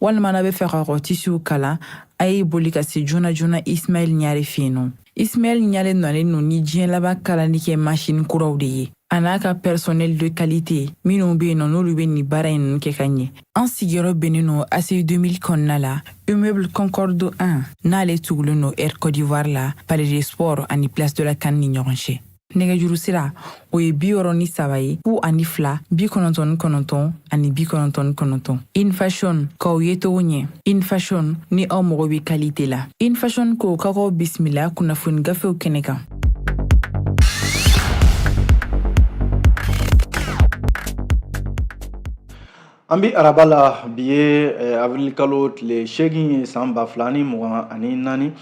walima n'a b'a fɛ k'a ka tisiw kala a ye boli ka se joona joona ismaɛl ɲare fɛ yen nɔ ismaɛl ɲare nalen no ni diɲɛ laban kalali kɛ masini kuraw de ye a n'a ka personnel de qualité minnu be yen nɔ n'olu be nin baara ninnu kɛ ka ɲɛ an sigiyɔrɔ bɛnnen no ACI 2000 kɔnɔna la immeuble concorde 1 n'ale tugulen no air côte d'ivoire la palais des sports ani place de la CAN ni ɲɔgɔn cɛ nɛgɛjuru sira o ye bi wɔrɔ ni saba ye fu ani fila bi kɔnɔntɔn ni kɔnɔntɔn ani bi kɔnɔntɔn ni kɔnɔntɔn in fashion k'aw yecogo ɲɛ in fashion ni aw mago bɛ qualité la in fashion ko k'aw bisimila kunnafoni gafew kɛnɛ kan an bi araba la bi ye eh, avril kalo tile seegin ye san ba fila ni mugan ani naani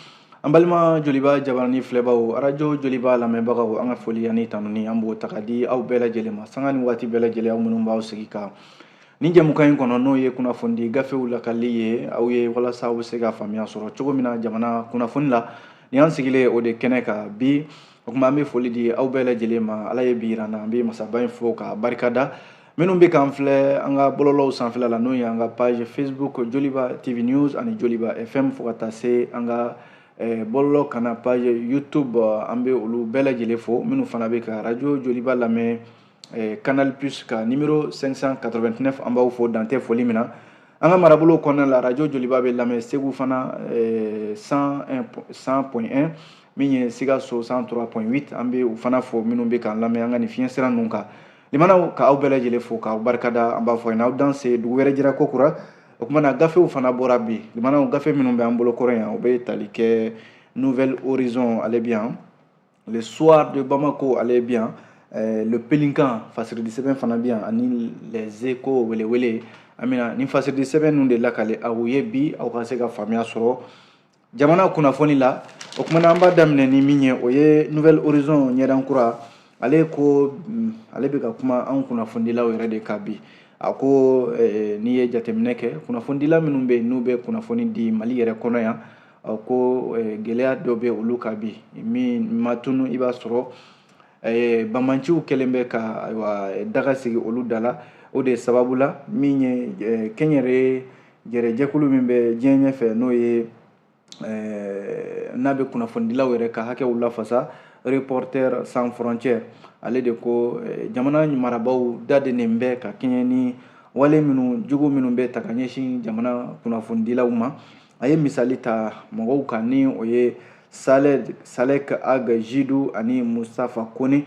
An balima joliba jabarani filɛbaw arajo joliba lamɛnbagaw an ka foli ni tanuni an b'o ta ka di aw bɛɛ lajɛlen ma sanga ni waati bɛɛ lajɛlen minnu b'aw sigi ka nin jɛmukan in kɔnɔ n'o ye kunnafoni gafew lakali ye aw ye walasa aw bɛ se ka faamuya sɔrɔ cogo min na jamana kunnafoni la ni an sigilen o de kɛnɛ kan bi o tuma an bɛ foli di aw bɛɛ lajɛlen ma ala ye bi yir'an na an bɛ masaba in fo ka barikada minnu bɛ k'an filɛ an ka bɔlɔlɔw sanfɛla la n'o ye an ka page facebook joliba tv news ani joliba fm fo ka taa se an ka eh, bɔlɔlɔ kana page youtube an bɛ olu bɛɛ lajɛlen fo minnu fana bɛ ka radio joliba lamɛn eh, canal plus ka numéro 589 an b'aw fo dan tɛ foli min na an ka marabolo kɔnɔna la radio joliba bɛ lamɛn segu fana 100.1 eh, min ye sikaso 103.8 an bɛ u fana fo minnu bɛ k'an lamɛn an ka nin fiɲɛ sira ninnu kan Limanaw k'aw bɛɛ lajɛlen fo k'aw barikada an b'a fɔ n'aw danse dugu wɛrɛ jɛra kokura o tuma na na gafew fana bɔra bi limanaw gafe minnu bɛ an bolo kɔrɔ yan u bɛ tali kɛ nouvel horizon ale bi yan le soir de Bamako ale bi yan eh, le pélican fasiridi sɛbɛn fana bi yan ani les échos welewele an bɛna nin fasiridi sɛbɛn ninnu de lakale aw ye bi aw ka se ka faamuya sɔrɔ jamana kunnafoni la o kuma na an b'a daminɛ ni min ye o ye nouvel horizon ɲɛdan kura ale ko mm, ale bɛ ka kuma an kunnafonidilaw yɛrɛ de kan bi a ko eh, n'i ye jateminɛ kɛ kunnafonidila minnu bɛ n'u bɛ kunnafoni di mali yɛrɛ kɔnɔ yan ko eh, gɛlɛya dɔ bɛ olu kan bi min ma tunu i b'a sɔrɔ eh, banbaanciw kɛlen bɛ ka ayiwa daga sigi olu da la o de sababu la min ye kɛnyɛrɛye jɛrɛ jɛkulu min bɛ diɲɛ ɲɛfɛ n'o ye eh, n'a bɛ kunnafonidilaw yɛrɛ ka hakɛw lafasa reporters sans frontières ale de ko eh, jamana marabaaw da denen bɛ ka kɛɲɛ ni wale minnu jugu minnu bɛ ta ka ɲɛsin jamana kunnafonidilaw ma a ye misali ta mɔgɔw kan ni o ye salek ag jidu ani mustafa kone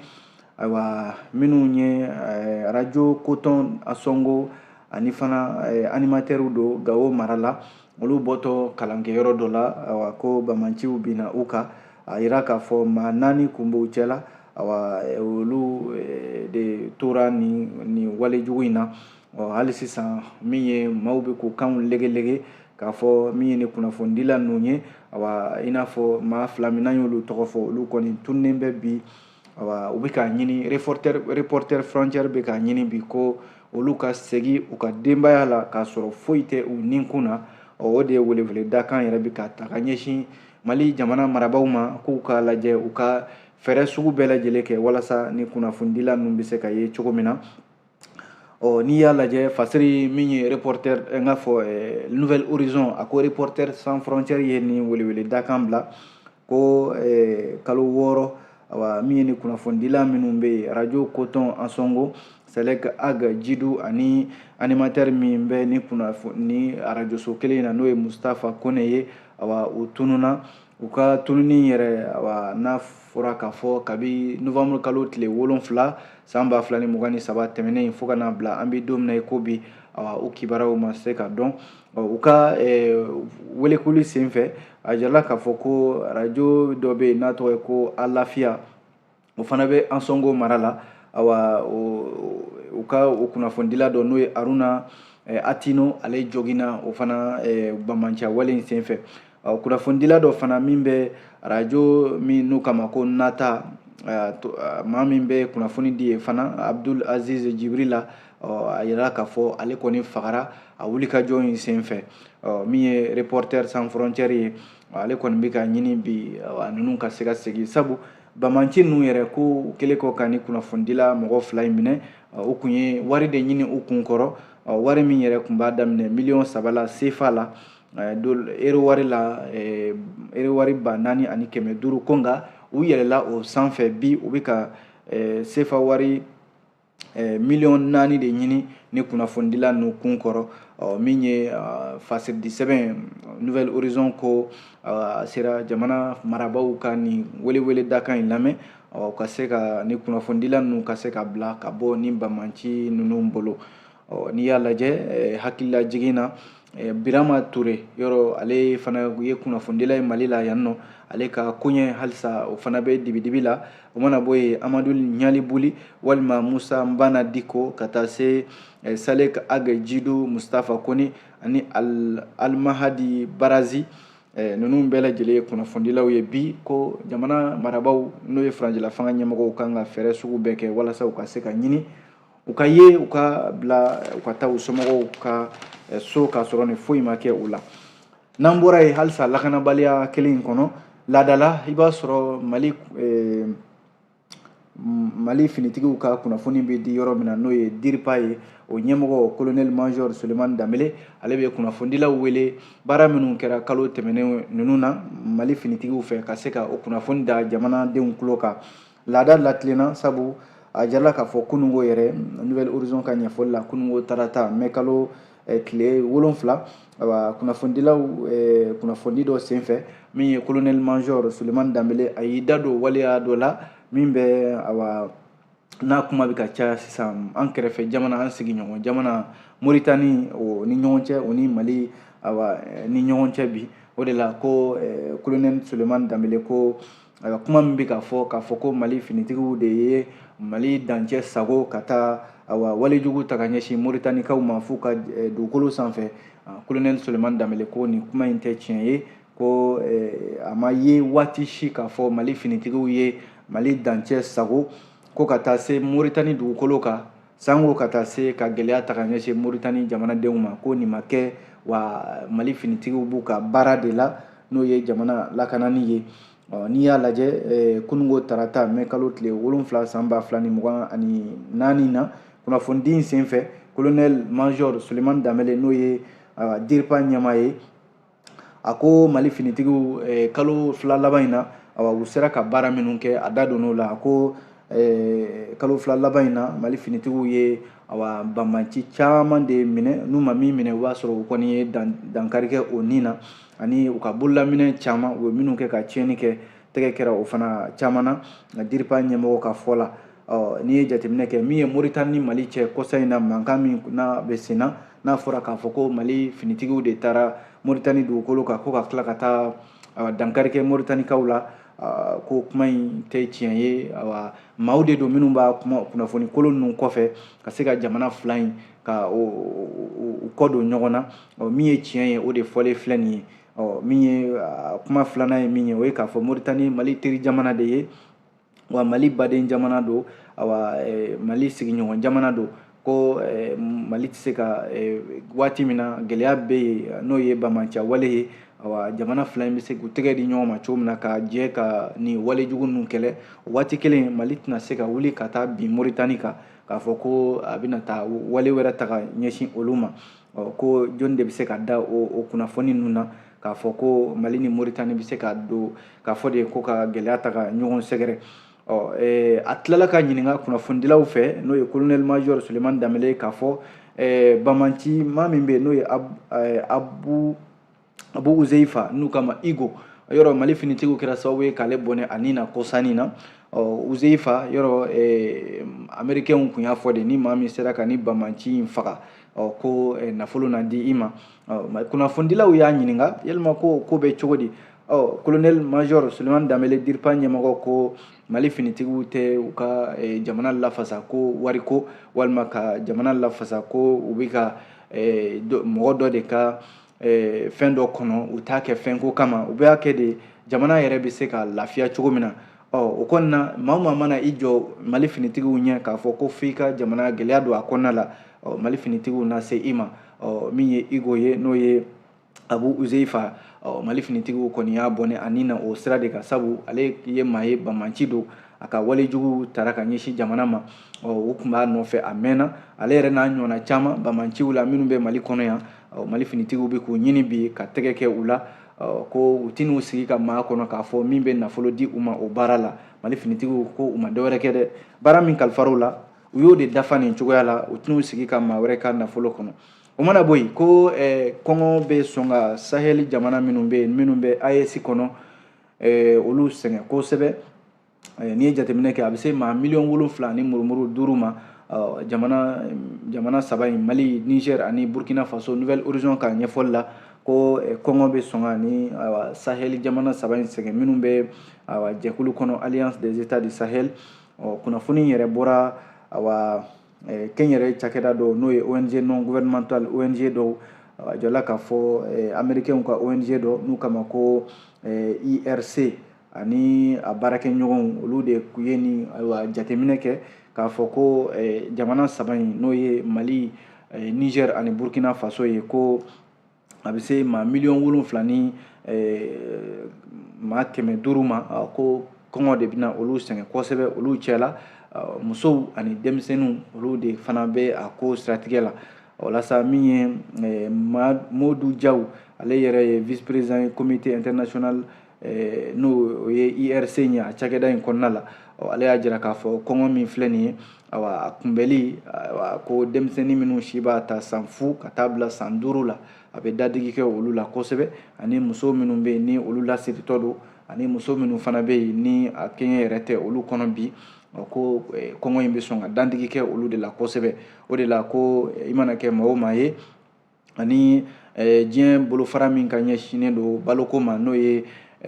ayiwa minnu ye eh, arajo coton ansongo ani fana eh, animatɛriw don gawo mara la olu bɔtɔ kalankɛ yɔrɔ dɔ la awa ko bamanciw bina u kan a yira k'a fɔ maa naani kun b'u cɛ la awa eh, olu eh, de tora ni ni wale jugu in na ɔ hali sisan min ye maaw bɛ k'u kanw legelege k'a fɔ min ye ni kunnafonidila ninnu ye awa i n'a fɔ maa fila min n'an y'olu tɔgɔ fɔ olu kɔni tununnen bɛ bi U bɛ k'a ɲini reporter frontière bɛ k'a ɲini bi ko olu ka segin u ka denbaya la k'a sɔrɔ foyi tɛ u nin kun na ɔ o de ye welewele dakan yɛrɛ bɛ ka ta ka ɲɛsin mali jamana marabaw ma k'u k'a lajɛ u ka fɛɛrɛ sugu bɛɛ lajɛlen kɛ walasa ni kunnafonidila ninnu bɛ se ka ye cogo min na ɔ n'i y'a lajɛ fasiri min ye reporter n k'a fɔ eh, nouvelle horizon a ko reporter sans frontière ye nin welewele dakan bila ko eh, kalo wɔɔrɔ awa min ye ni kunnafonidila minnu bɛ yen radio coton ansongo salek ag jidu ani animatɛr min bɛ ni kunnafoni ni arajoso kelen in na n'o ye mustafa kone ye awa u tununna u ka tununi yɛrɛ awa n'a fɔra k'a fɔ kabi novanburu kalo tile wolon wolonwula san ba fila ni mugan ni saba tɛmɛnen in fo ka n'a bila an bɛ don min na i ko bi awa u kibaruyaw ma se ka dɔn u ka welekuli senfɛ a yirala k'a fɔ ko arajo dɔ bɛ yen n'a tɔgɔ ye ko alafiya o fana bɛ ansongo mara la awa u ka o kunnafonidila dɔ n'o ye aruna eh, atino ale jogina o fana eh, bamanciya wale in senfɛ kunnafonidila dɔ fana min bɛ arajo min n'u k'a ma ko nata eh, maa min bɛ kunnafoni di yen fana abdul aziz jibrila a yirala k'a fɔ ale kɔni fagara a wulikajɔ in senfɛ min ye reporter sans frontière ye ale kɔni bɛ k'a ɲini bi ninnu ka se ka segin sabu bamanci ninnu yɛrɛ ko u kɛlen kɔ ka ni kunnafonidila mɔgɔ fila in minɛ u kun ye wari de ɲini u kun kɔrɔ wari min yɛrɛ kun b'a daminɛ miliyɔn saba la sefa la ero wari la ero wari ba naani ani kɛmɛ duuru ko nka u yɛlɛla o sanfɛ bi u bɛ ka sefa wari miliyɔn naani de ɲini ni kunnafonidila ninnu kun kɔrɔ min ye fasiridi sɛbɛn nouvelle horizon ko a sera jamana marabaaw ka nin welewele dakan in lamɛn ka se ka ni kunnafonidila ninnu ka se ka bila ka bɔ ni bamanci ninnu bolo ɔ n'i y'a lajɛ eh, hakililajigin na eh, birama ture yɔrɔ ale fana ye kunnafonidila ye mali la yan nɔ ale ka koɲɛ halisa o fana bɛ dibidibi la o mana bɔ yen amadu ɲalibuli walima musa nbana diko ka taa se eh, salek ag jidu mustafa kone ani al almahadi barazi eh, ninnu bɛɛ lajɛlen ye kunnafonidilaw ye bi ko jamana marabaw n'o ye furancɛla fanga ɲɛmɔgɔw kan ka fɛɛrɛ sugu bɛɛ kɛ walasa u ka se ka ɲini u ka ye u ka bila u ka taa u somɔgɔw ka eh, so k'a sɔrɔ nin foyi ma kɛ u la n'an bɔra yen halisa lakanabaliya kelen in kɔnɔ laadala i b'a sɔrɔ mali eh, mali finitigiw ka kunnafoni bɛ di yɔrɔ min na n'o ye diripa ye o ɲɛmɔgɔ kolonɛli major sulemani danbele ale bɛ kunnafonidilaw wele baara minnu kɛra kalo tɛmɛnen ninnu na mali finitigiw fɛ ka se ka o kunnafoni da jamanadenw tulo kan Laada latilenna sabu a jirala k'a fɔ kununko yɛrɛ nouvelle horizon ka ɲɛfɔli la kununko tarata mai kalo eh, tile wolonfila awa kunnafonidilaw eh, kunnafoni dɔ senfɛ min ye colonel major sulemani danbele a y'i da don waleya dɔ la min bɛ awa n'a kuma bɛ ka caya sisan an kɛrɛfɛ jamana an sigiɲɔgɔn jamana moritani o ni ɲɔgɔn cɛ o ni mali awa eh, ni ɲɔgɔn cɛ bi o de la ko eh, colonel sulemani danbele ko awa kuma min bɛ ka fɔ k'a fɔ ko mali finitigiw de ye mali dancɛ sagon ka taa awa walejugu ta ka ɲɛsin moritanikaw ma f'u ka eh, dugukolo sanfɛ kolonɛli ah, sulemani danbele ko nin kuma in tɛ tiɲɛ ye ko eh, a ma ye waati si k'a fɔ mali finitigiw ye mali dancɛ sagon ko ka taa se moritani dugukolo kan Sanko ka taa se ka gɛlɛya ta ka ɲɛsin moritani jamanadenw ma ko nin ma kɛ wa mali finitigiw b'u ka baara de la n'o ye jamana lakanani ye n'i y'a lajɛ kununko tarata mɛ kalo tile wolonfila san ba fila ni mugan ani naani na kunnafonidi in senfɛ kolonɛli major sulemani danbele n'o ye diripa ɲɛmaa ye a ko mali finitigiw eh, kalo fila laban in na awa u sera ka baara minnu kɛ a da donn'o la a ko eh, kalo fila laban in na mali finitigiw ye awa banbanci caman de minɛ n'u ma min minɛ o b'a sɔrɔ u kɔni ye dan, dankari kɛ o ni na ani u ka bololaminɛ caman u ye minnu kɛ ka tiɲɛni kɛ tɛgɛ kɛra o fana caman na nka diripa ɲɛmɔgɔ ka fɔ la n'i ye jateminɛ kɛ min ye moritani ni mali cɛ kɔsa in na mankan min n'a bɛ sen na n'a fɔra k'a fɔ ko mali finitigiw de taara moritani dugukolo kan ko ka tila ka taa ah, dankari kɛ moritanikaw la ah, ko kuma in tɛ tiɲɛ ye awa maaw de don minnu b'a kuma kunnafoni kolon ninnu kɔfɛ ka se ka jamana fila in ka u kɔ don ɲɔgɔn na min ye tiɲɛ ye o de fɔlen filɛ nin ye min ye ah, kuma filanan ye min ye o ye k'a fɔ moritani mali teri jamana de ye wa mali baden jamana don awa eh, mali sigiɲɔgɔn jamana don ko eh, mali tɛ se ka eh, waati min na gɛlɛya bɛ yen n'o ye banbanciya wale ye awa jamana fila in bɛ se k'u tɛgɛ di ɲɔgɔn ma cogo min na ka jɛ ka nin walejugu ninnu kɛlɛ waati kelen mali tɛna se ka wuli ka taa bin moritani kan k'a fɔ ko a bɛna taa wale wɛrɛ ta ka ɲɛsin olu ma ko jɔnni de bɛ se ka da o kunnafoni ninnu na k'a fɔ ko mali ni moritani bɛ se ka don k'a fɔ de ye ko ka gɛlɛya ta ka ɲɔgɔn sɛgɛrɛ ɔ eh, a tilala ka ɲininka kunnafonidilaw fɛ n'o ye colonel major suleman danbele k'a fɔ eh, bamanci maa min bɛ yen n'o ye eh, abu abu uzeifa n'u k'a ma igo yɔrɔ mali finitigiw kɛra sababu ye k'ale bɔnɛ a ni na kɔsa in na ɔ uzeifa yɔrɔ eh, amerikɛnw kun y'a fɔ de ni maa min sera ka ni bamanci in faga ɔ ko eh, nafolo na di i ma kunnafonidilaw y'a ɲininka yalima ko ko bɛ cogo di ɔ kolonɛli major sulemani danbele diripa ɲɛmɔgɔ ko mali finitigiw tɛ u ka eh, jamana lafasa ko wariko walima ka jamana lafasa ko u bɛ ka eh, mɔgɔ dɔ de ka eh, fɛn dɔ kɔnɔ u t'a kɛ fɛnko kama u b'a kɛ de jamana yɛrɛ bɛ se ka lafiya cogo min na ɔ o kɔnɔna na maa maa mana i jɔ mali finitigiw ɲɛ k'a fɔ ko f'i ka jamana gɛlɛya don a kɔnɔna la ɔ mali finitigiw na se i ma ɔ min ye igo ye n'o ye abu uzeifa ɔ mali finitigiw kɔni y'a bɔnɛ a ni na o sira de kan sabu ale ye maa ye bamanci don a ka walejuguw tara ka ɲɛsin jamana ma ɔ u tun b'a nɔfɛ a mɛnna ale yɛrɛ n'a ɲɔgɔnna caman bamanciw la minnu bɛ mali kɔnɔ yan mali finitigiw bɛ k'u ɲini bi ka tɛgɛ kɛ u la ko u tɛn'u sigi ka maa kɔnɔ k'a fɔ min bɛ nafolo di u ma o baara la mali finitigiw ko u ma dɔwɛrɛ kɛ dɛ baara min kalifar'u la u y'o de dafa nin cogoya la u tɛn'u sigi ka maa wɛrɛ ka nafolo kɔnɔ o mana bɔ yen ko kɔngɔ bɛ sɔn ka sahɛli jamana minnu bɛ yen minnu bɛ aes kɔnɔ olu sɛgɛn kosɛbɛ eh, n'i ye jateminɛ kɛ a bɛ se maa miliyɔn wolonfila ni murumuru duuru ma eh, jamana jamana saba in mali niger ani burkina faso nouvel horizon ka ɲɛfɔli la ko eh, kɔngɔ bɛ sɔn ka ni sahel jamana saba in sɛgɛn minnu bɛ jɛkulu kɔnɔ alliance des états du sahel ɔ kunnafoni yɛrɛ bɔra awa kɛnyɛrɛ cakɛda dɔw n'o ye ong non gouvernemental ong dɔw a jɔla k'a fɔ eh, amerikɛnw ka ong dɔ n'u k'a ma ko eh, irc ani a baarakɛɲɔgɔnw olu de ye ni ayiwa jateminɛ kɛ k'a fɔ ko eh, jamana saba in n'o ye mali eh, niger ani burkina faso ye ko a bɛ se maa miliyɔn wolonfila ni eh, maa kɛmɛ duuru ma ah, ko kɔngɔ de bɛna olu sɛgɛn kosɛbɛ olu cɛla ah, musow ani denmisɛnninw olu de fana bɛ a ko siratigɛ la walasa min ye eh, modu jaw ale yɛrɛ ye vice président ye comité international n'o ye irc ye a cakɛda in kɔnɔna la ale y'a jira k'a fɔ kɔngɔ min filɛ nin ye awa a kunbɛli awa ko denmisɛnnin minnu si b'a ta san fu ka taa bila san duuru la a bɛ dadigi kɛ olu la kosɛbɛ ani muso minnu bɛ yen ni olu lasiritɔ don ani muso minnu fana bɛ yen ni a kɛɲɛ yɛrɛ tɛ olu kɔnɔ bi ko eh, kɔngɔ in bɛ sɔn ka dadigi kɛ olu de la kosɛbɛ o de la ko eh, i mana kɛ maa o maa ye ani diɲɛ bolofara min ka ɲɛsinnen don baloko ma n'o ye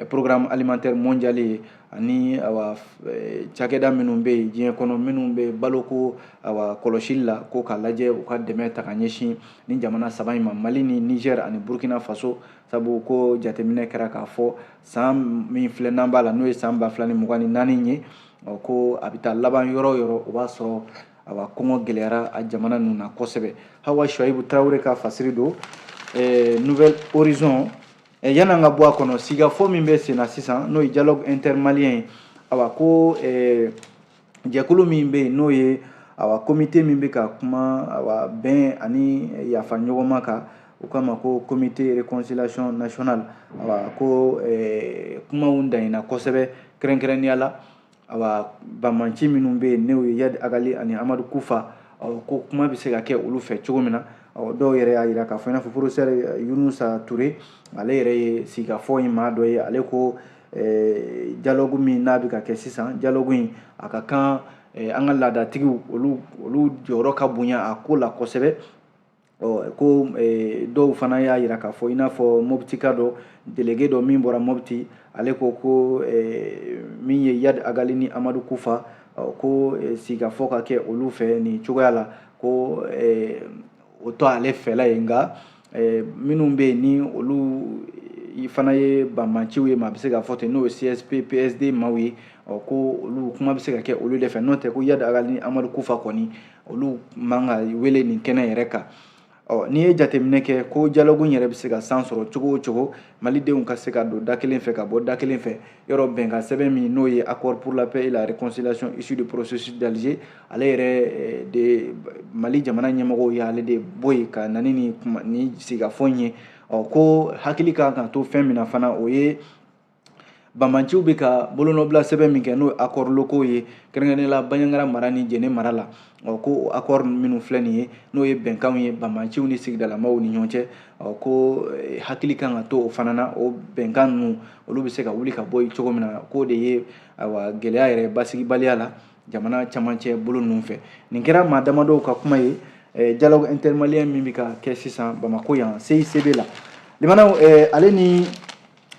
programme alimentaire mondial ye ani cakɛda minnu bɛ yen diɲɛ kɔnɔ minnu bɛ baloko kɔlɔsi la ko k'a lajɛ u ka dɛmɛ ta ka ɲɛsin nin jamana saba in ma mali ni niger ani burukina faso sabu ko jateminɛ kɛra k'a fɔ san min filɛ n'an b'a la n'o ye san ba fila ni mugan ni naani ye ko a bɛ taa laban yɔrɔ o yɔrɔ o b'a sɔrɔ awa kɔngɔ gɛlɛyara a jamana ninnu na kosɛbɛ hawa shuaibu tarawele ka fasiri don eh, nouvel horizon eh, yan'an ka bɔ a kɔnɔ sigafɔ min bɛ senna sisan n'o ye dialogue intermalien ye awa ko eh, jɛkulu min bɛ yen n'o ye awa komite min bɛ ka kuma awa bɛn ani yafa ɲɔgɔnma kan u k'a ma ko comité réconciliation nationale awa ko eh, kumaw danyina kosɛbɛ kɛrɛnkɛrɛnnenya la awa banbanci minnu bɛ yen n'o ye yadi agali ani amadu kufa ko kuma bɛ se ka kɛ olu fɛ cogo min na dɔw yɛrɛ y'a jira k'a fɔ i n'a fɔ porofesɛri yunusa ture ale yɛrɛ ye sigikafɔ in maa dɔ ye ale ko jalogu min n'a bɛ ka kɛ sisan jalogu in a ka kan an ka laadatigiw olu jɔyɔrɔ ka bonya a ko la kosɛbɛ ɔ ko eh, dɔw fana y'a jira k'a fɔ i n'a fɔ mɔbitika dɔ delege dɔ min bɔra mɔbiti ale ko ko eh, min ye yad agali ni amadu kufa ko eh, sigikafɔ ka kɛ olu fɛ nin cogoya la ko o tɛ ale fɛla ye nka minnu bɛ yen ni olu fana ye banbanciw ye maa bɛ se k'a fɔ ten n'o ye csp psd maaw ye ɔ ko olu kuma bɛ se ka kɛ olu de fɛ n'o tɛ ko yad agali ni amadu kufa kɔni olu man ka wele nin kɛnɛ yɛrɛ kan ɔ n'i ye jateminɛ kɛ ko jalogu yɛrɛ bɛ se ka san sɔrɔ cogo o cogo malidenw ka se ka don da kelen fɛ ka bɔ da kelen fɛ yɔrɔ bɛnkan sɛbɛn min n'o ye accord pour la paix et la réconciliation issu du processus d'Alger ale yɛrɛ eh, de mali jamana ɲɛmɔgɔw ye ale de bɔ yen ka na ni nin sigikafɔ in ye ɔ ko hakili kan ka to fɛn min na fana o ye banbanciw bɛ ka bolonɔbila sɛbɛn min kɛ n'o ye accords locaux ye kɛrɛnkɛrɛnnenya la banjagara mara ni jɛnɛ mara la ɔ ko o accord minnu filɛ nin ye n'o ye bɛnkanw ye banbanciw ni sigidalamaw ni ɲɔgɔn cɛ ɔ ko eh, hakili kan ka to o fana na o bɛnkan ninnu olu bɛ se ka wuli ka bɔ yen cogo min na k'o de ye awa gɛlɛya yɛrɛ basigibaliya la jamana camancɛ bolo ninnu fɛ nin kɛra maa damadɔw ka kuma ye eh, dialogue intermalien min bɛ ka kɛ sisan bamako yan CICB la limanaw eh, ale ni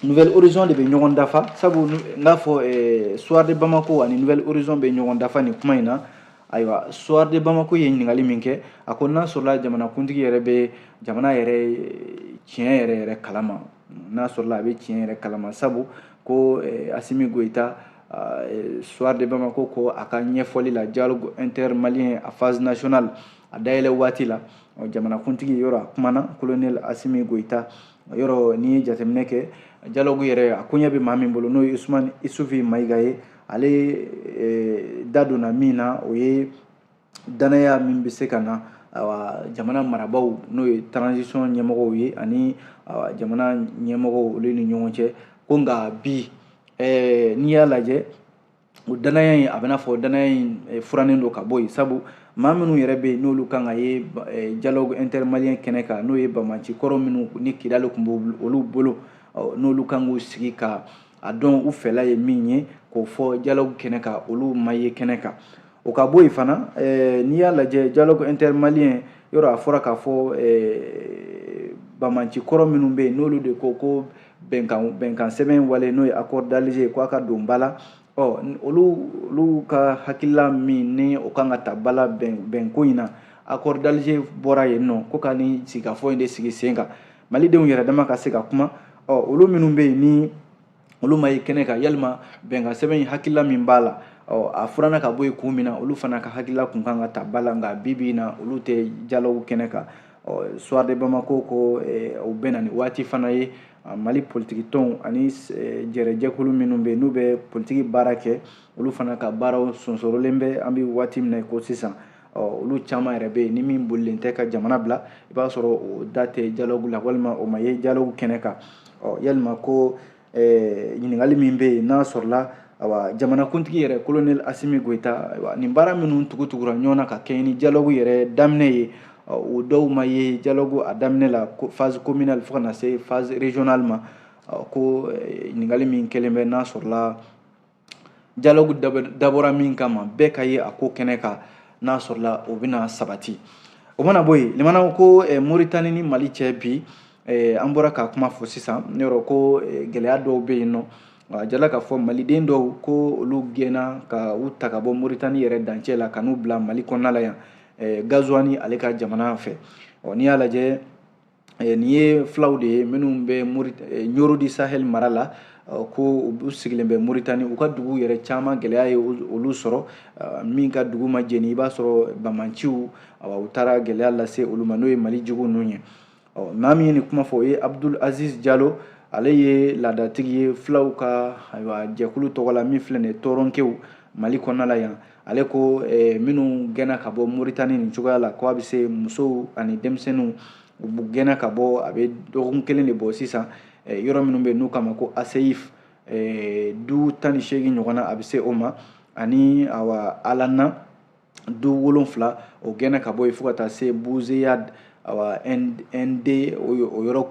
Nouvel Horizon de bɛ ɲɔgɔn dafa sabu n k'a fɔ eh, soir de Bamako ani Nouvel Horizon bɛ ɲɔgɔn dafa nin kuma in na ayiwa soir de Bamako ye ɲininkali min kɛ a ko n'a sɔrɔla jamanakuntigi yɛrɛ bɛ jamana yɛrɛ eh, tiɲɛ yɛrɛ yɛrɛ kalama n'a sɔrɔla a bɛ tiɲɛ yɛrɛ kalama sabu ko eh, Asimi Goyita ah, soir de Bamako ko a ka ɲɛfɔli la dialogue intermalien a phase nationale a dayɛlɛ waati la jamanakuntigi yɔrɔ a kumana colonel Asimi Goyita yɔrɔ n'i ye jateminɛ kɛ dialogue yɛrɛ a koɲɛ bɛ maa min bolo n'o ye usumani isufi mayiga ye ale eh, da donna min na o ye danaya min bɛ se ka na awa jamana marabaaw n'o ye transition ɲɛmɔgɔw ye ani awa jamana ɲɛmɔgɔw olu ni ɲɔgɔn cɛ ko nka bi eh, n'i y'a lajɛ o danaya in a bɛ n'a fɔ danaya in eh, furannen don ka bɔ yen sabu maa minnu yɛrɛ bɛ yen n'olu kan ka ye eh, dialogue intermalien kɛnɛ kan n'o ye banbaanci kɔrɔ minnu ni kidali tun b'olu bolo n'olu kan k'u sigi ka a dɔn u fɛla ye min ye k'o fɔ dialogue kɛnɛ kan olu ma ye kɛnɛ kan o ka bɔ yen fana eh, n'i y'a lajɛ dialogue intermalien yɔrɔ a fɔra k'a fɔ eh, banbaanci kɔrɔ minnu bɛ yen n'olu de ko ko bɛnkan bɛnkan sɛbɛn wale n'o ye accord d'Alger ko a ka don ba la ɔ olu olu ka hakilila min ni o kan ka ta ba la bɛn bɛnko in na accord d'Alger bɔra yen nɔ ko ka nin sigikafɔ in de sigi sen kan malidenw yɛrɛ dama ka se ka kuma ɔ olu minnu bɛ yen ni olu ma ye kɛnɛ kan yalima bɛnkan sɛbɛn in hakilila min b'a la a furanna ka bɔ yen kun min na olu fana ka hakilila kun kan ka ta ba la nka bi bi in na olu tɛ dialogue kɛnɛ kan soir de bamako ko o bɛ na ni waati fana ye mali politiki tɔnw ani jɛrɛjɛkulu minnu bɛ n'u bɛ politiki baara kɛ olu fana ka baaraw sonsorolen bɛ an bɛ waati min na ko sisan ɔ olu caman yɛrɛ bɛ yen ni min bolilen tɛ ka jamana bila i b'a sɔrɔ o da tɛ dialogue la walima o ma ye dialogue kɛnɛ kan ɔ yalima ko eh, ɲininkali min bɛ yen n'a sɔrɔla awa jamanakuntigi yɛrɛ colonel asimi goyita ayiwa nin baara minnu tugutugura ɲɔgɔn na ka kɛɲɛ ni dialogue yɛrɛ daminɛ ye o dɔw ma ye dialogue a daminɛ la phase communale fo ka na se phase régionale ma ko eh, ɲininkali min kɛlen bɛ n'a sɔrɔla dialogue dabɔra min kama bɛɛ ka ye a ko kɛnɛ kan n'a sɔrɔla o bɛna sabati o mana bɔ yen limana ko eh, moritani ni mali cɛ bi eh, an bɔra k'a kuma fɔ sisan nin yɔrɔ ko eh, gɛlɛya dɔw bɛ yen nɔ a jirala k'a fɔ maliden dɔw ko olu gɛnna ka u ta ka bɔ moritani yɛrɛ dancɛ la ka n'u bila mali kɔnɔna la yan gazuwani ale ka jamana fɛ ɔ n'i y'a lajɛ Eh, nin ye fulaw de ye minnu bɛ eh, ɲoro du sahel mara la eh, ko u sigilen bɛ moritani u ka dugu yɛrɛ caman gɛlɛya ye olu sɔrɔ min ka dugu ma jeni i b'a sɔrɔ bamanciw u taara gɛlɛya lase olu ma n'o ye mali jugu ninnu ye maa min ye nin kuma fɔ o ye abdul aziz jalo ale ye laadatigi ye fulaw ka jɛkulu tɔgɔ la min filɛ nin ye toronkew mali kɔnɔna la yan ale ko eh, minnu gɛnna ka bɔ moritani nin cogoya la ko a bɛ se musow ani denmisɛnninw u gɛnna ka bɔ a bɛ dɔgɔkun kelen de bɔ sisan eh, yɔrɔ minnu bɛ n'u k'a ma ko aseyif eh, du tan ni seegin ɲɔgɔn na a bɛ se o ma ani awa alanna du wolonfila o gɛnna ka bɔ yen fo ka taa se buzeyad awa nd o yɔrɔ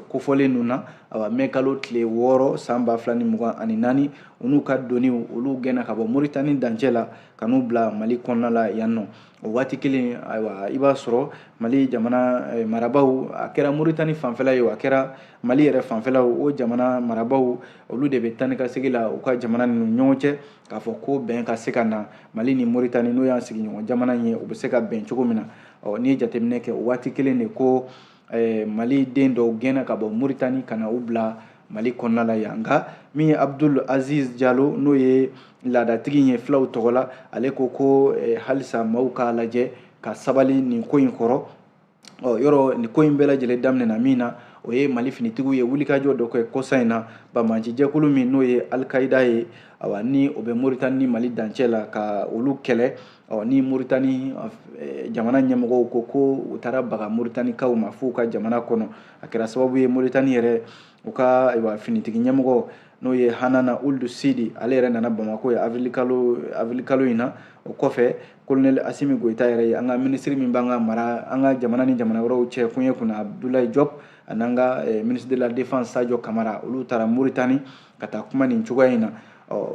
kofɔlen ninnu na awa mɛkalo tile wɔɔrɔ san ba fila ni mugan ani naani u n'u ka doniw olu gɛnna ka bɔ moritani dancɛ la ka n'u bila mali kɔnɔna la yan nɔ o waati kelen ayiwa i b'a sɔrɔ mali jamana eh, marabaaw a kɛra moritani fanfɛla ye o a kɛra mali yɛrɛ fanfɛla o jamana marabaaw olu de bɛ taa ni ka segin la u ka jamana ninnu ɲɔgɔn cɛ k'a fɔ ko bɛn ka se ka na mali ni moritani n'o y'an sigiɲɔgɔn jamana ye u bɛ se ka bɛn cogo min na ɔ n'i ye jateminɛ kɛ o waati kelen de ko eh, mali den dɔw gɛnna ka bɔ moritani ka na u bila mali kɔnɔna la yan nka min ye abdul aziz jalo n'o ye laadatigi ye filaw tɔgɔ la ale ko ko eh, halisa maaw k'a lajɛ ka sabali nin ko in kɔrɔ ɔ yɔrɔ nin ko in bɛɛ lajɛlen daminɛna min na o ye mali finitigiw ye wulikajɔ dɔ kɛ kɔsa in na bamanci jɛkulu min n'o ye alikaida ye awa ni o bɛ moritani ni mali dancɛ la ka olu kɛlɛ ɔ ni moritani eh, jamana ɲɛmɔgɔw ko ko u taara baga moritanikaw ma f'u ka jamana kɔnɔ a kɛra sababu ye moritani yɛrɛ u ka ayiwa finitigi ɲɛmɔgɔ n'o ye hanana ulu sidi ale yɛrɛ nana bamako ye avrilikalo avrilikalo in na o kɔfɛ kolonɛli asimi goyita yɛrɛ ye an ka minisiri min b'an ka mara an ka jamana ni jamana wɛrɛw cɛ koɲɛ kunna abudulayi jɔp an'an ka eh, minisiri de la defense sajɔ kamara olu taara moritani ka taa kuma nin cogoya in na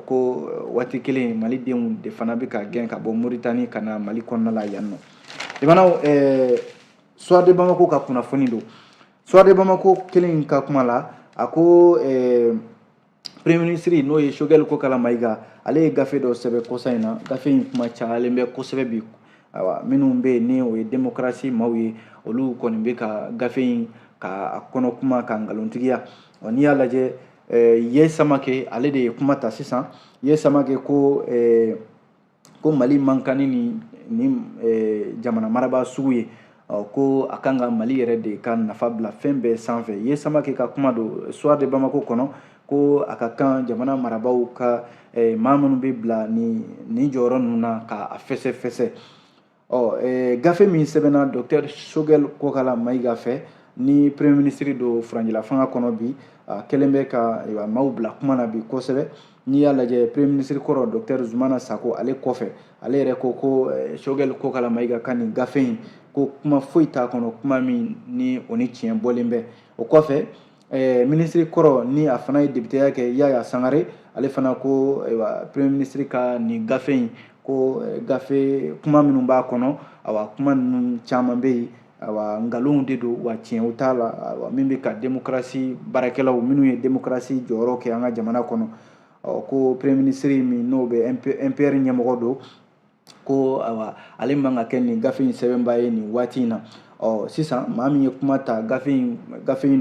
k'o waati kelen mali denw de fana bɛ ka gɛn ka bɔ moritani ka na mali kɔnɔna la yan nɔ jamanaw soir de bamako ka kunnafoni don soir de bamako kelen ka kuma la a ko premier minisiri n'o ye sogɛli kokala mayiga ale ye gafe dɔ sɛbɛn kɔsa in na gafe in kuma cayalen bɛ kosɛbɛ bi ayiwa minnu bɛ yen ni o ye demokarasi maaw ye olu kɔni bɛ ka gafe in ka a kɔnɔ kuma ka nkalontigiya ɔ n'i y'a lajɛ ye samake ale de ye kuma ta sisan ye samake ko ko mali man kan ni nin nin jamana marabaa sugu ye ko a kan ka mali yɛrɛ de ka nafa bila fɛn bɛɛ sanfɛ ye samake ka kuma don soir de bamako kɔnɔ ko a ka kan jamana marabaaw ka maa minnu bɛ bila nin nin jɔyɔrɔ ninnu na k'a fɛsɛfɛsɛ ɔ gafe min sɛbɛnna dɔkitɛri sogɛli kokala mayiga fɛ ni premier minisiri don furancɛla fanga kɔnɔ bi a kɛlen bɛ ka maaw bila kuma na bi kosɛbɛ n'i y'a lajɛ premier minisiri kɔrɔ dɔkitɛri zumana sako ale kɔfɛ ale yɛrɛ ko ko sogɛli kokala mayiga ka nin gafe in ko kuma foyi t'a kɔnɔ kuma min ni o ni tiɲɛ bɔlen bɛ o kɔfɛ Ɛɛ minisiri kɔrɔ ni a fana ye depiteya kɛ yaya sangare ale fana ko premier minisiri ka nin gafe in ko gafe kuma minnu b'a kɔnɔ awa kuma ninnu caman bɛ yen awa nkalonw de don wa tiɲɛw t'a la min bɛ ka demokarasi baarakɛlaw minnu ye demokarasi jɔyɔrɔ kɛ an ka jamana kɔnɔ ɔ ko premier minisiri min n'o bɛ MPR ɲɛmɔgɔ don ko awa ale man ka kɛ nin gafe in sɛbɛnbaa ye nin waati in na ɔ sisan maa min ye kuma ta gafe in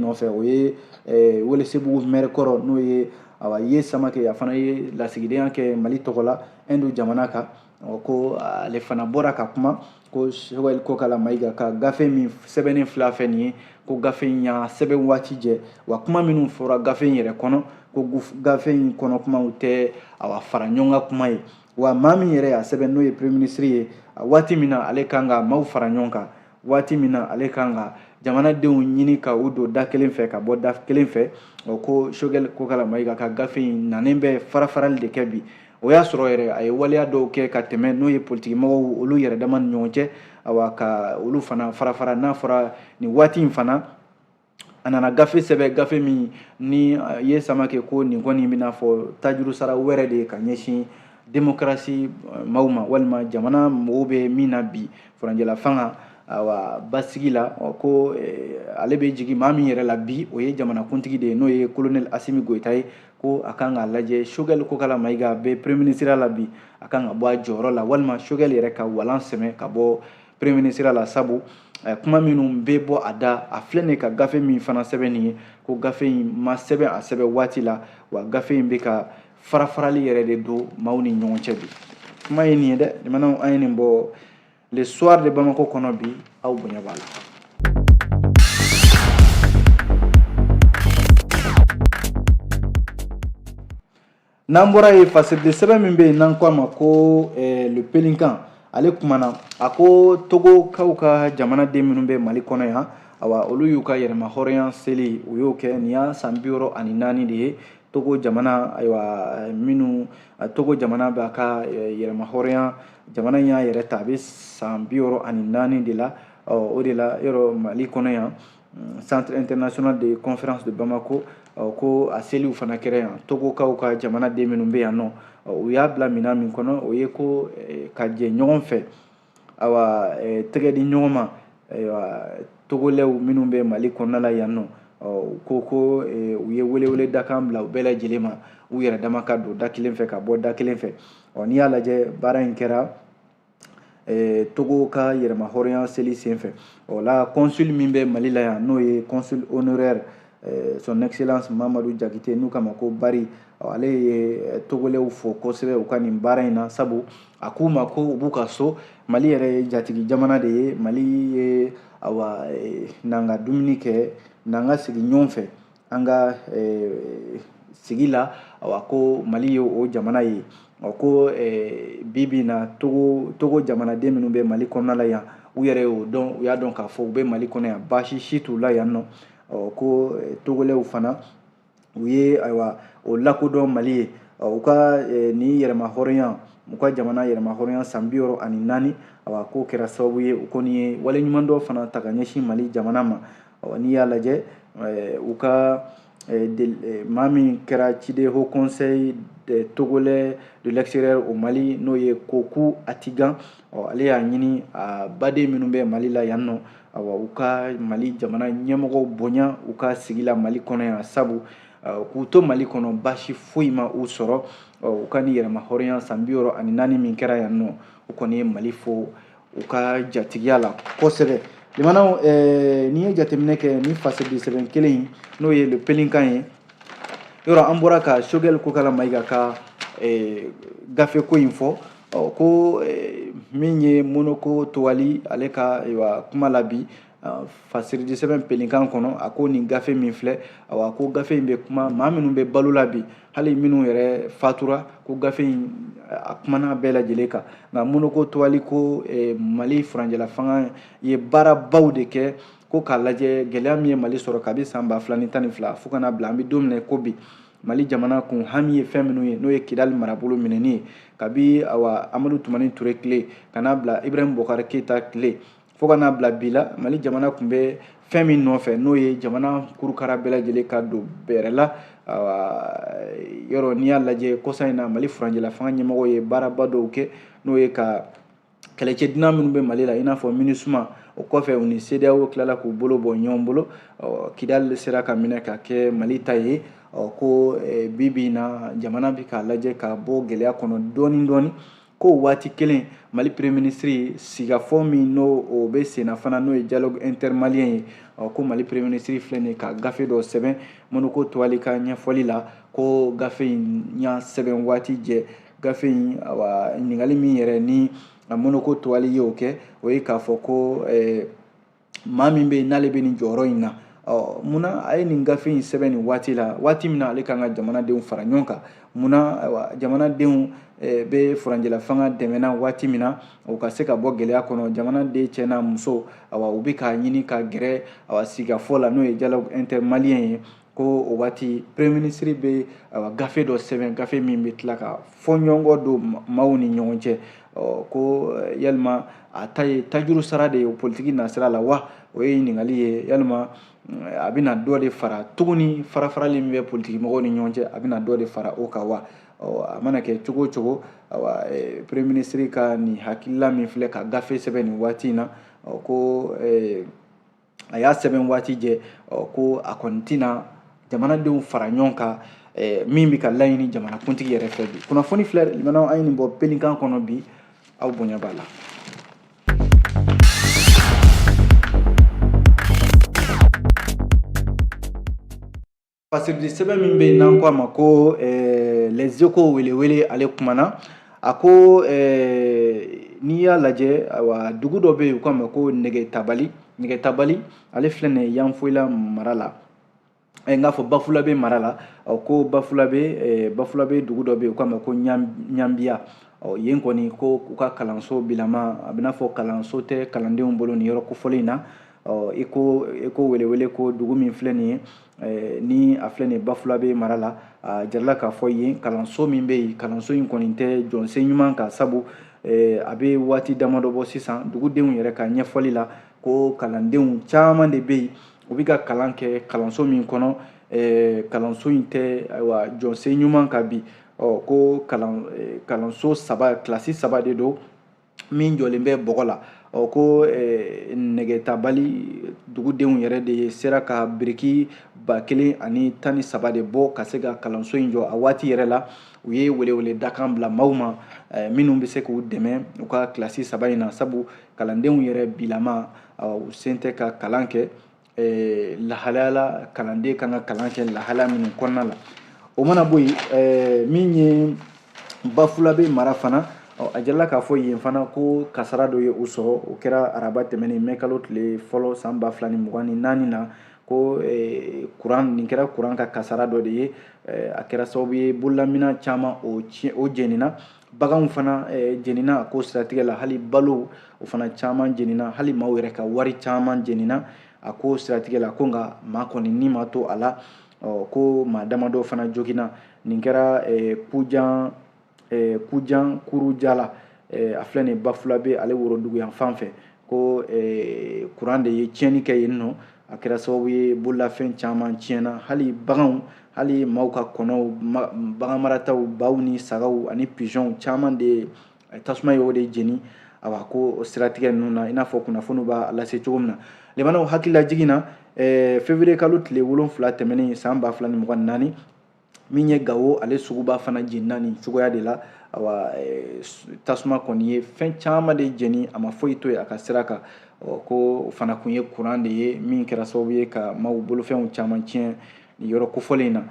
nɔfɛ o ye eh, welesebugu mɛri kɔrɔ n'o ye awa ye samakɛ a fana ye lasigidenya kɛ mali tɔgɔ la ɛndu jamana kan ko ale fana bɔra ka kuma ko sogɛli kokala mayiga ka gafe min sɛbɛnnen filɛ nin ye ko gafe in y'a sɛbɛn waati jɛ wa kuma minnu fɔra gafe in yɛrɛ kɔnɔ ko gafe in kɔnɔ kumaw tɛ awa fara ɲɔgɔn kan kuma ye wa maa min yɛrɛ y'a sɛbɛn n'o ye premier ministre ye waati min na ale kan ka maaw fara ɲɔgɔn kan waati min na ale kan ka jamanadenw ɲini ka u don da kelen fɛ ka bɔ da kelen fɛ ko sogɛli kokala mayiga ka gafe in nanen bɛ farafarali de kɛ bi o y'a sɔrɔ yɛrɛ a ye waleya dɔw kɛ ka tɛmɛ n'o ye politikimɔgɔw olu yɛrɛ dama ni ɲɔgɔn cɛ awa ka olu fana farafara n'a fɔra nin waati in fana a nana gafe sɛbɛn gafe min ni ye samakɛ ko nin kɔni bɛ n'a fɔ tajurusara wɛrɛ de ye ka ɲɛsin demokarasi maaw ma walima jamana mɔgɔw bɛ min na bi furancɛla fanga awa basigi la ko ale bɛ jigin maa min yɛrɛ la bi o ye jamanakuntigi de ye n'o ye kolonɛli asimi goyita ye ko a kan k'a lajɛ sogɛli kokala mayiga bɛ premier minisiriya la bi a kan ka bɔ a jɔyɔrɔ la walima sogɛli yɛrɛ ka walan sɛmɛ ka bɔ premier minisiriya la sabu eh, kuma minnu bɛ bɔ a da a filɛ nin ka gafe min fana sɛbɛn nin ye ko gafe in ma sɛbɛn a sɛbɛn waati la wa gafe in bɛ ka farafarali yɛrɛ de don maaw ni ɲɔgɔn cɛ bi kuma ye nin ye dɛ jamanaw an ye nin bɔ le soir de bamako kɔnɔ bi aw bonya b'a la n'an bɔra yen fasilite sɛbɛn min bɛ yen n'an ko a ma ko eh, le pélican ale kumana a ko togokaw ka jamanaden minnu bɛ mali kɔnɔ yan awa olu y'u ka yɛrɛmahɔrɔnya seli u y'o kɛ nin y'a san bi wɔɔrɔ ani naani de ye togo jamana ayiwa eh, minnu eh, togo jamana b'a ka eh, yɛrɛmahɔrɔnya jamana in y'a yɛrɛ ta a bɛ san bi wɔɔrɔ ani naani de la ɔ o de la yɔrɔ mali kɔnɔ yan centre international de conférence de Bamako ko a seliw fana kɛra yan togokaw ka jamanaden minnu bɛ yan nɔ u y'a bila minɛn min kɔnɔ o ye ko eh, ka jɛ ɲɔgɔn fɛ awa eh, tɛgɛ di ɲɔgɔn ma togolɛw minnu bɛ mali kɔnɔna la yan nɔ u ko ko eh, u ye welewele dakan bila u bɛɛ lajɛlen ma u yɛrɛ dama ka don da kelen fɛ ka bɔ da kelen fɛ n'i y'a lajɛ baara in kɛra togo ka yɛrɛma hɔrɔnya seli senfɛ o la consul min bɛ mali la yan n'o ye consul honoraire son excellence mamadu jakite n'u k'a ma ko bari ale ye togolɛw fo kosɛbɛ u ka nin baara in na sabu a k'u ma ko u b'u ka so mali yɛrɛ ye jatigi jamana de ye mali ye awa n'an ka dumuni kɛ n'an ka sigi ɲɔgɔn fɛ an ka eh, sigi la awa ko mali ye o jamana ye ko eh, bi bi na togo togo jamanaden minnu bɛ mali kɔnɔna la yan u yɛrɛ y'o dɔn u y'a dɔn k'a fɔ u bɛ mali kɔnɔ yan baasi si t'u la yan nɔ ko eh, togolɛw fana u ye ayiwa o lakodɔn mali ye u ka nin yɛrɛma hɔrɔnya u ka jamana yɛrɛma hɔrɔnya san bi wɔɔrɔ ani naani awa k'o kɛra sababu ye u kɔni ye waleɲumandɔn fana ta ka ɲɛsin mali jamana ma ɔ n'i y'a lajɛ eh, u ka eh, eh, maa min kɛra ciden haut conseil des togolais de l'extérieur au mali n'o ye koku atigan ɔ ale y'a ɲini a baden minnu bɛ mali la yan nɔ awa u ka mali jamana ɲɛmɔgɔw bonya u ka sigi la mali kɔnɔ yan sabu k'u to mali kɔnɔ baasi foyi ma u sɔrɔ u ka nin yɛrɛma hɔrɔnya san bi wɔɔrɔ ani naani min kɛra yan nɔ u kɔni ye mali fo u ka jatigiya la kosɛbɛ lamɛnnaw eh, n'i ye jateminɛ kɛ ni fasɛdi sɛbɛn kelen in n'o ye le pélican ye yɔrɔ an bɔra ka sogɛli kokala mayiga ka eh, gafe ko in fɔ ɔ ko eh, min ye monoko towali ale ka ayiwa kuma la bi fasiridi sɛbɛn pélican kɔnɔ a ko nin gafe min filɛ a ko gafe in bɛ kuma maa minnu bɛ balo la bi hali minnu yɛrɛ fatura ko gafe in a kumana bɛɛ lajɛlen kan nka monoko towali ko e, mali furancɛla fanga ye baarabaw de kɛ ko k'a lajɛ gɛlɛya min ye mali sɔrɔ kabi san ba fila ni tan ni fila fo ka n'a bila an bɛ don min na ko bi mali jamana kun hami ye fɛn minnu ye n'o ye kidali marabolo minɛni ye kabi awa amadu tumani ture tile ka n'a bila ibrahim bokari keyita tile fo ka n'a bila bi la mali jamana kun bɛ fɛn min nɔfɛ n'o ye jamana kurukara bɛɛ lajɛlen ka don bɛrɛ la yɔrɔ n'i y'a lajɛ kɔsa in na mali furancɛla fanga ɲɛmɔgɔ ye baaraba dɔw kɛ n'o ye ka kɛlɛcɛ dunan minnu bɛ mali la i n'a fɔ minisuma o kɔfɛ u ni sedeyawo tilala k'u bolo bɔ ɲɔgɔn bolo kidali sera ka minɛ ka kɛ mali ta ye ko bi bi in na jamana bɛ k'a lajɛ ka bɔ gɛlɛya kɔnɔ dɔɔni dɔɔni k'o waati kelen mali premier ministre sigafɔ min n'o bɛ senna fana n'o ye dialogue intermalien ye ko mali premier ministre filɛ nin ka gafe dɔ sɛbɛn monoko towali ka ɲɛfɔli la ko gafe in y'a sɛbɛn waati jɛ gafe in awa ɲininkali min yɛrɛ ni monoko towali ye o kɛ o ye k'a fɔ ko ɛɛ maa min bɛ yen n'ale bɛ nin jɔyɔrɔ in na ɔ munna a ye nin gafe in sɛbɛn nin waati la waati min na ale kan ka jamanadenw fara ɲɔgɔn kan munna ayiwa jamanadenw eh, bɛ furancɛla fanga dɛmɛna waati min na u ka se ka bɔ gɛlɛya kɔnɔ jamanaden cɛ n'a muso awa u bɛ k'a ɲini ka gɛrɛ awa sigafɔ la n'o ye dialogue intermalien ye ko o waati premier ministre bɛ gafe dɔ sɛbɛn gafe min bɛ tila ka fɔɲɔgɔnkɔ don maaw ni ɲɔgɔn cɛ ko eh, yalima a ta ye tajuru sara de ye politiki nasira la wa o ye ɲininkali ye yalima eh, a bɛna dɔ de fara tuguni farafarali min bɛ politiki mɔgɔw ni ɲɔgɔn cɛ a bɛna dɔ de fara o kan wa a mana kɛ cogo o cogo awa eh, premier ministre ka nin hakilila min filɛ ka gafe sɛbɛn nin waati in na ko a y'a sɛbɛn waati jɛ ko a kɔni tɛna jamanadenw fara ɲɔgɔn kan min bɛ ka laɲini jamanakuntigi yɛrɛ fɛ bi kunnafoni filɛ lamɛnnaw an ye nin bɔ pelikan kɔnɔ bi aw bonya b'a la fasiridi sɛbɛn min bɛ yen n'an ko a ma ko eh, lɛzeko welewele ale kumana a ko eh, n'i y'a lajɛ ayiwa dugu dɔ bɛ yen u k'a ma ko nɛgɛtabali nɛgɛtabali ale filɛ nin ye yanfolila mara la eh, n k'a fɔ bafulabe mara la ɔ ko bafulabe bafulabe dugu dɔ bɛ yen u k'a ma ko ɲanbiya ɔ yen kɔni ko u ka kalanso bilama a bɛ n'a fɔ kalanso tɛ kalandenw bolo nin yɔrɔ kofɔlen in na ɔ eko welewele ko dugu min filɛ nin ye Eh, ni a filɛ nin bafulabe mara la a jirala k'a fɔ yen kalanso min bɛ yen kalanso in kɔni tɛ jɔsen ɲuman kan sabu eh, a bɛ waati damadɔ bɔ sisan dugudenw yɛrɛ ka ɲɛfɔli la ko kalandenw caman de bɛ yen u bɛ ka kalan kɛ kalanso min kɔnɔ eh, kalanso in tɛ ayiwa jɔsen ɲuman kan bi ɔ ko kalan kalanso saba kilasi saba de don min jɔlen bɛ bɔgɔ la ɔ ko eh, nɛgɛtabali dugudenw yɛrɛ de ye sera ka biriki ba kelen ani tan ni saba de bɔ ka se ka kalanso in jɔ a waati yɛrɛ la u ye welewele dakan bila maaw ma eh, minnu bɛ se k'u dɛmɛ u ka kilasi saba in na sabu kalandenw yɛrɛ bilama u sen tɛ ka kalan kɛ eh, lahalaya la kalanden kan ka kalan kɛ lahalaya minnu kɔnɔna la o mana bɔ yen eh, min ye bafulabe mara fana a jirala k'a fɔ yen fana ko kasara dɔ ye u sɔrɔ o kɛra araba tɛmɛnen mɛ kalo tile fɔlɔ san ba fila ni mugan ni naani na ko eh, kuran nin kɛra kuran ka kasara dɔ de ye eh, a kɛra sababu ye bololaminɛn caman o tiɲɛ o jenina baganw fana eh, jenina a ko siratigɛ la hali balo o fana caman jenina hali maaw yɛrɛ ka wari caman jenina a ko siratigɛ la ko nka maa kɔni ni ma to a la ko maa damadɔ fana joginna nin kɛra eh, kujan eh, kujan kurujala a filɛ nin bafulabe ale worodugu yanfan fɛ ko eh, kuran de ye tiɲɛni kɛ yenninɔ a kɛra sababu ye bololafɛn caman tiɲɛna hali baganw hali maaw ka kɔnɔw baganmarataw baw ni sagaw ani pigeonw caman de eh, tasuma ye o de jeni awa ko siratigɛ ninnu na i n'a fɔ kunnafoniw b'a lase cogo min na lemanaw hakililajigin na eh, fevrier kalo tile wolonfila tɛmɛnen san ba fila ni mugan ni naani min ye gawo ale suguba fana jenina nin cogoya de la awa eh, tasuma kɔni ye fɛn caman de jeni a ma foyi to yen a ka sira kan k'o fana kun ye kuran de ye min kɛra sababu ye ka maaw bolofɛnw caman tiɲɛ nin yɔrɔ kofɔlen in na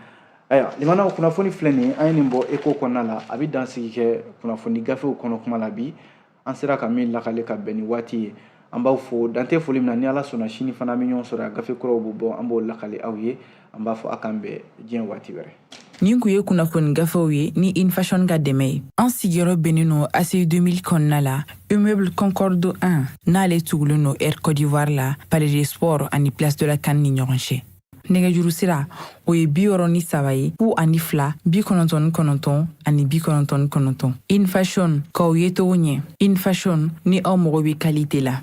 ayiwa limanaw kunnafoni filɛ nin ye an ye nin bɔ eko kɔnɔna la an bɛ dansigi kɛ kunnafoni gafew kɔnɔkuma la bi an sera ka min lakali ka bɛn ni waati ye an b'aw fo dan tɛ foli min na ni ala sɔnna sini fana an bɛ ɲɔgɔn sɔrɔ yan gafe kuraw bɛ bɔ an b'o lakali aw ye an b'a fɔ a k'an bɛn diɲɛ waati wɛrɛ nin kun ye kunnafoni gafew ye ni infashion ka dɛmɛ ye an sigiyɔrɔ bɛnnen don aci 2000 kɔnɔna la immeuble concorde 1 n'ale tugulen don air cote d'ivoire la palais des sports ani place de la can ni ɲɔgɔn cɛ nɛgɛjuru sira o ye bi wɔɔrɔ ni saba ye fu ani fila bi kɔnɔntɔn ni kɔnɔntɔn ani bi kɔnɔntɔn ni kɔnɔntɔn infashion k'aw yecogo ɲɛ infashion ni aw mago bɛ kalite la